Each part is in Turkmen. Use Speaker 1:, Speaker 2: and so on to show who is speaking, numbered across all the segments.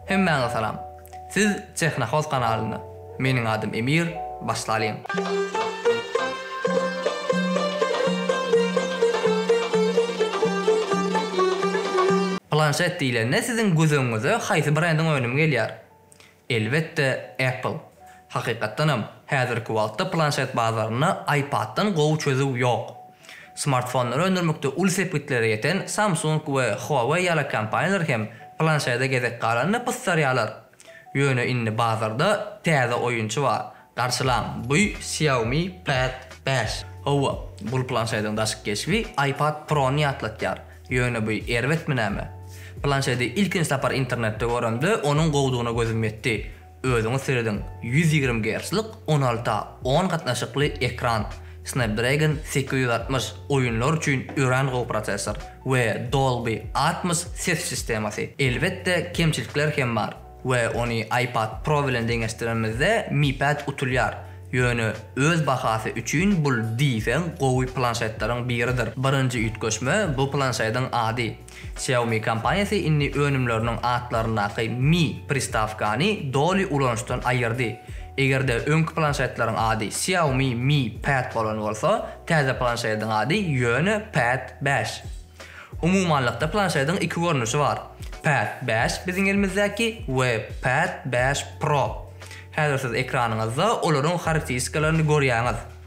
Speaker 1: Hemmäňize salam. Siz Tehnohoz kanalynda. Meniň adym Emir. Başlalyň. Planşet diýlende siziň göz öňüňize haýsy brendiň önümi gelýär? Elbetde Apple. Hakykatdanam, häzirki wagtda planşet bazarynda iPad-dan gowy çözüw ýok. Smartfonlary öndürmekde uly sepgitlere ýeten Samsung we Huawei ýaly kompaniýalar hem planşede gezek galanda pyssarýarlar. Ýöne indi bazarda täze oýunçy bar, garşylaň, bu Xiaomi Pad bäş. Hawa, bul planşediň daşky keşbi iPad Pro-ny ýatlatýar, ýöne bu erbetmi näme? Planşedi ilkinji sapar internetde göremde onuň gowudygyna gözüm ýetdi. Özüňiz serediň, ýüz ýigrimi gerclik on alty a on gatnaşykly ekran, Snapdragon sekiz ýüz altmyş, oýunlar üçin örän gowy prosessor we Dolby Atmos ses sistemasy. Elbetde, kemçilikler hem bar we ony iPad Pro bilen deňeşdirenimizde Mi Pad utulýar, ýöne öz bahasy üçin bul diýseň gowy planşetleriň biridir. Birinji üýtgeşme bu planşediň ady. Xiaomi kompaniýasy indi önümleriniň atlaryndaky Mi pristawkany doly ulanyşdan aýyrdy. Eger-de öňki planşetleriň ady Xiaomi Mi Pad bolan bolsa, täze planşediň ady ýöne Pad bäş. Umumanlykda planşediň iki görnüşi bar, Pad bäş, biziň elimizdäki, we Pad bäş Pro. Häzir siz ekranyňyzda olaryň harakteristikalaryny görýäňiz.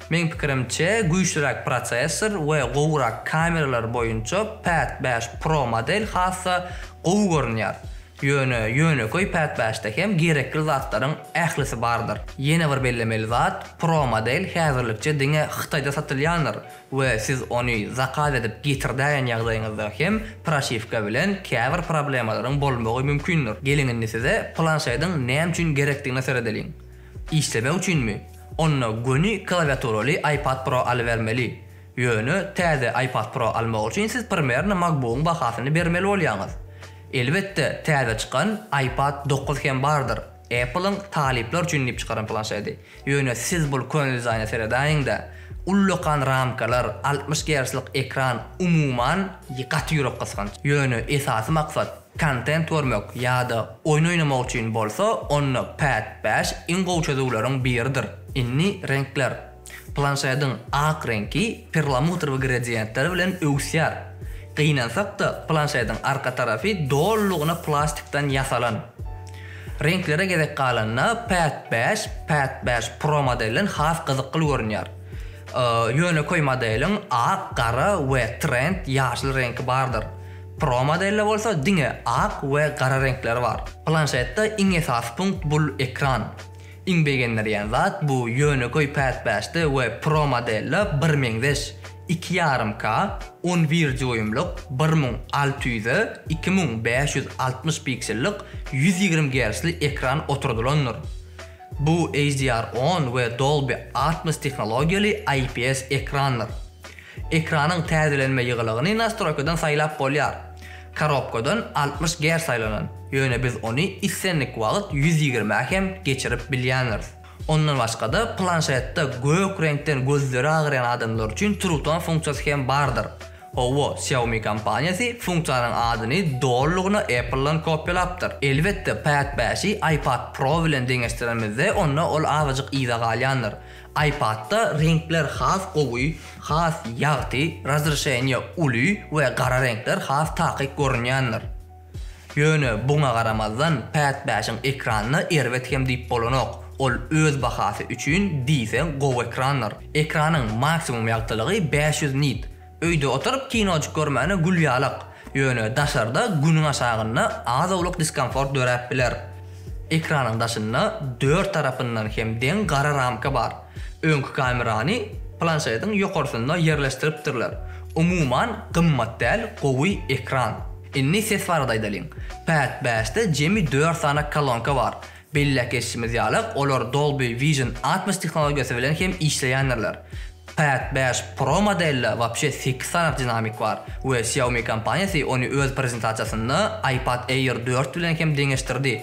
Speaker 1: Meň pikirimçe, güýçliräk prosessor we gowurak kameralar boýunça Pad bäş Pro model has-da gowy görünýär. Ýöne ýönekeý Pad bäşde hem gerekli zatlaryň ählisi bardyr. Ýene bir bellemeli zat, Pro model häzirlikçe diňe Hytaýda satylýandyr we siz ony zakaz edip getirdäýen ýagdaýyňyzda hem proşiwka bilen käbir problemalaryň bolmagy mümkindir. Geliň indi size planşediň näme üçin gerekdigine seredeliň. Işlemek üçinmi? Onda göni klawiaturaly iPad Pro alybermeli. Ýöne täze iPad Pro almak üçin siz primerno MacBook-yň bahasyny bermeli bolýaňyz. Elbetde, täze çykan iPad dokuz hem bardyr, Apple-yň talyplar üçin diýip çykaran planşedi. Ýöne siz bul köne dizaýna seredäýiň-dä. Ullakan ramkalar, altmyş gerçlik ekran, umuman, gaty ýürek gysganç. Ýöne esasy maksat, Kontent görmek ýa-da oýun oýnamak üçin bolsa onda Pad bäş iň gowy çözüwleriň biridir. Indi reňkler. Planşediň ak reňki perlamutr we gradiýentler bilen öwüsýär. Gynansak-da, planşediň arka tarapy dolulygyna plastikden ýasalan. Reňklere gezek galanda Pad bäş, Pad bäş Pro modelden has gyzykly görünýär. Ýönekeý modeliň ak, gara we trend, ýaşyl reňki bardyr. Pro modelde bolsa diňe ak we gara reňkleri bar. Planşetde iň esasy punkt bul ekran. Iň begendirýän zat bu ýönekeý Pad bäşde we Pro modelde birmeňzeş, iki ýarym K, on bir dýuýmlyk, bir müň alty ýüze iki müň bäş ýüz altmyş piksellik ýüz ýigrimi gertzli ekran oturdylandyr. Bu HDR-on we Dolby Atmos tehnologiýaly IPS ekrandyr. Ekranyň täzelenme ýygylygyny nastroýkadan saýlap bolýar. Korobkadan altmyş Gz saýlanan, ýöne biz ony islendik wagt ýüz ýigrimi-ä hem geçirip bilýändiris. Ondan başga-da planşetde gök reňkden gözleri agyrýan adamlar üçin turutan funksiýasy hem bardyr. Hawa, Xiaomi kompaniýasy funksiýanyň adyny dolulygyna Apple-dan kopýalapdyr. Elbetde, Pad bäşi iPad Pro bilen deňeşdirenimizde, onda ol azajyk yza galýandyr. iPad-da reňkler has gowy, has ýagty, razreşeniýe uly we gara reňkler has takyk görünýändir. Ýöne buňa garamazdan, Pad bäşiň ekranyna erbet hem diýip bolanok. Ol öz bahasy üçin diýseň gowy ekrandyr. Ekranyň maksimum ýagtylygy bäş ýüz nit. Öýde oturyp kinojyk görmäne gül ýalak. Ýöne daşarda günüň aşagynda az-owlak diskomfort döräp biler. Ekranyň daşynda dört tarapyndan hem deň gara ramka bar. Öňki kamerany planşetiň ýokarsynda ýerleşdiripdirler. Umuman gymmat däl gowy ekran. Indi ses barada aýdalyň. Pad bäşde jemi dört sany kolonka bar. Belläp geçişimiz ýaly olar Dolby Vision altmyş tehnologiýasy bilen hem işleýändirler. Pad bäş Pro modelde wapşe sekiz sany dinamik bar we Xiaomi kompaniýasy ony öz prezentasiýasynda iPad Air dört bilen hem deňeşdirdi.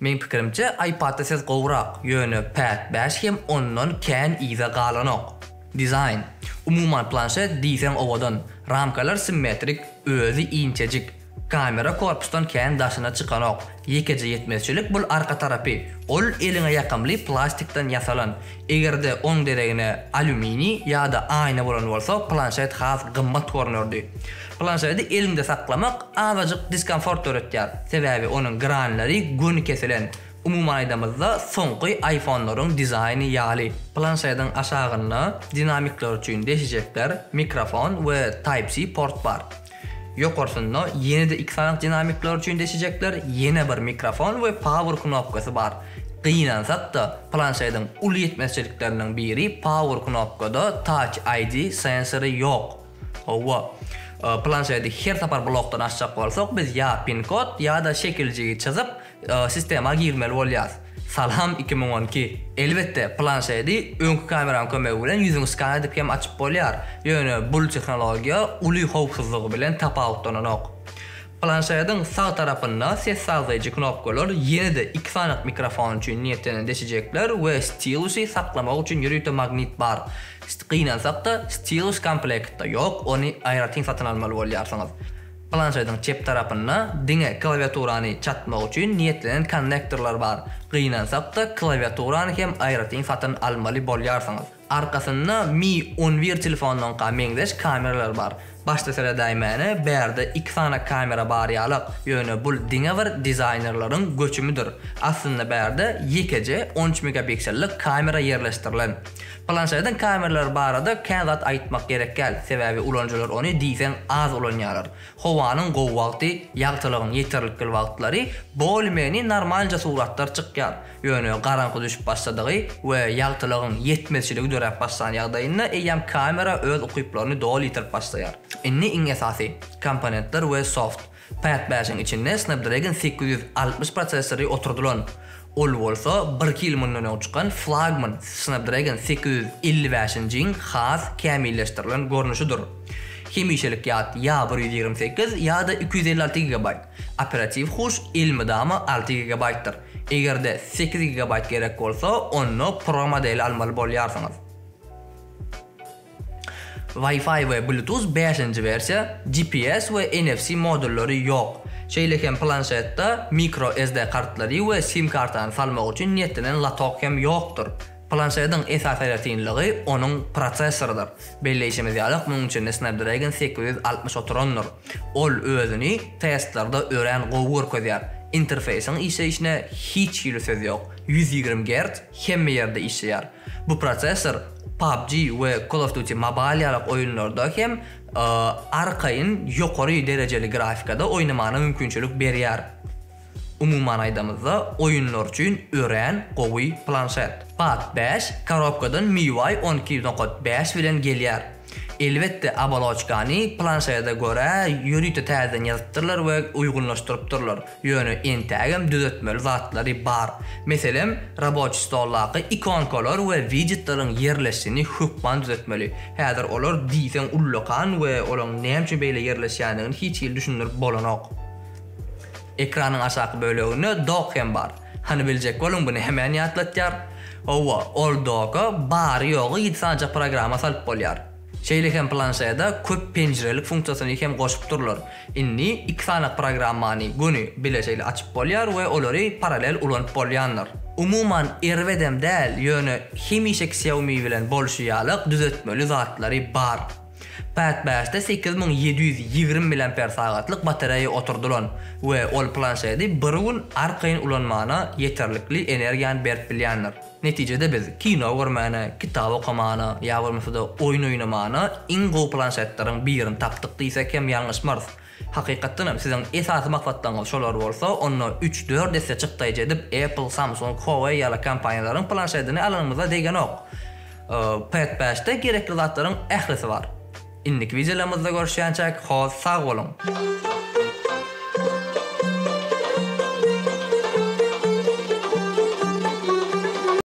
Speaker 1: Meň pikirimçe iPad-da ses gowurak, ýöne Pad bäş hem ondan kän yza galanok. Dizaýn, umuman planşet diýseň owadan, ramkalar simmetrik, özi inçejik. Kamera korpusdan kän daşyna çykanok, ýekeje ýetmezçilik bul arka tarapy, ol eliňe ýakymly plastikden ýasalan, Eger-de oň deregine alýuminiý ýa-da aýna bolan bolsa, planşet has gymmat görnerdi. Planşeti eliňde saklamak azajyk diskomfort döretýär, sebäbi onuň granlary göni kesilen, umuman aýdamyzda, soňky iPhone-laryň dizaýny ýaly. Planşetiň aşagynda dinamikler üçin deşijekler, mikrofon we Type-C port bar. Ýokarsynda ýene-de iki sany dinamikler üçin deşijekler, ýene bir mikrofon we power knopkasy bar. Gynansak-da, planşediň uly ýetmezçilikleriniň biri power knopkada Touch ID sensory ýok. Hawa, planşedi her sapar blokdan açjak bolsak biz ýa pin-kod ýa-da şekiljigi çyzyp, Sistema girmeli bolýas. Salam iki müň on iki. Elbetde, planşedi öňki kameranyň kömegi bilen ýüzüňi skan edip hem açyp bolýar, ýöne bul tehnologiýa uly howpsuzlygy bilen tapawutlananok. Planşediň sag tarapynda ses sazlaýjy knopkalar ýene-de iki sany mikrofon üçin niýetlenen deşijekler we stilusy saklamak üçin ýörite magnit bar. Gynansakda, stilus komplektde ýok, ony aýratyn satyn almaly bolýarsyňyz. Planşediň çep tarapynda diňe klawiaturany çatmak üçin niýetlenen konnektorlar bar. Gynansak-da, klawiaturany hem aýratyn satyn almaly bolýarsyňyz. Arkasynda Mi on bir telefonynyňka meňzeş kameralar bar. Başda seredäýmäne bärde iki sany kamera bar ýalak, ýöne bul diňe bir dizaýnerleriň göçümidir. Aslynda bärde ýekeje on üç megapiksellik kamera ýerleşdirilen. Planşetiň kameralar barada kän zat aýtmak gerekgäl, sebäbi ulanyjylar ony diýseň az ulanýarlar. Howanyň gowy wagty, ýagtylygyň ýeterlikl wagtlary bolmeni normalnja suratlar çykýar. Ýöne garaňky düşüp başladygy we ýagtylygyň ýetmezçiligi döräp başlan ýagdaýynda eýýäm kamera öz ukyplaryny doly ýitirip başlaýar. Indi iň esasy, komponentler we soft. Pad bäşiň içinde Snapdragon sekiz ýüz altmyş prosessory oturdylan. Ol bolsa birki ýyl mundan öň çykan flagman Snapdragon sekiz ýüz elli bäşinjiň has kämilleşdirilen görnüşidir. Hemişelik ýat ýa bir ýüz ýigrimi sekiz ýa-da iki ýüz elli alty gigabaýt. Operatiw huş elmydama alty gigabaýtdyr. Eger-de sekiz gigabaýt gerek bolsa, onda Pro modeli almaly bolýarsyňyz. Wi-Fi we Bluetooth bäşinji wersiýa, GPS we NFC modullary ýok. Şeýle hem planşetde mikro SD kartlary we sim kartany salmak üçin niýetlenen latok hem ýokdur. Planşediň esasy aýratynlygy onuň prosessorydyr. Belleýşimiz ýaly, munuň içinde Snapdragon sekiz ýüz altmyş oturandyr. Ol özüni testlerde örän gowy görkezýär. Interfeýsiň işleýşine hiç hili söz ýok. Ýüz ýigrimi gerts hemme ýerde işleýär. Bu prosessor PUBG we Call of Duty Mobile ýaly oýunlarda hem arkaýyn ýokary derejeli grafikada oýnamagyna mümkinçilik berýär. Umuman aýdamyzda, oýunlar üçin örän gowy planşet. Pad beş korobkadan MIUI on iki nokta bäş bilen gelýär. Elbetde, oboloçkany planşaýada görä ýörite täzeden ýazypdyrlar we uýgunlaşdyrypdyrlar, ýöne entägem düzetmeli zatlary bar. Meselem, raboçi stoldaky ikonkalar we wijetleriň ýerleşşini hökman düzetmeli. Häzir olar diýseň ullakan we olaň näme üçin beýle ýerleşýändigini hiç hili düşündirip bolanok. Ekranyň aşaky böleginde dock hem bar. Hany biljek boluň buny hemän ýatlatýar. Howwa ol doga bary ýogy ýedi sanyjak programma salyp bolýar. Şeýle hem planşeda köp penjirelik funksiýasyny hem goşupdyrlar. Indi iki sanyk programmany göni bile şeýle açyp bolýar we olary paralel ulanyp bolýandyr. Umuman erbedem däl ýöne hemişe Xiaomi bilen bolşy ýalyk düzetmeli zatlary bar. Päspäsde sekiz müň ýedi ýüz ýigrimi miliamper sagatlyk batareýa oturdylan we ol planşedi bir gün arkaýyn ulanmana ýeterlikli energiýany berip bilýändir. Netijede biz kino görmäne, kitap okamana ýa bolmasa-da oýun oýnamana iň gowy planşetleriň birini tapdyk diýsek hem ýalňyşmarys. Hakykatdanam, siziň esasy maksatlaryňyz şolar bolsa, onda üç-dört esse çykdaýjy edip Apple, Samsung, Huawei ýaly kompaniýalaryň planşedini alanymyzda degenok. Pad bäşde gerekli zatlaryň ählisi bar. Indiki wideolarymyzda görüşýänçäk, hoz, sag boluň!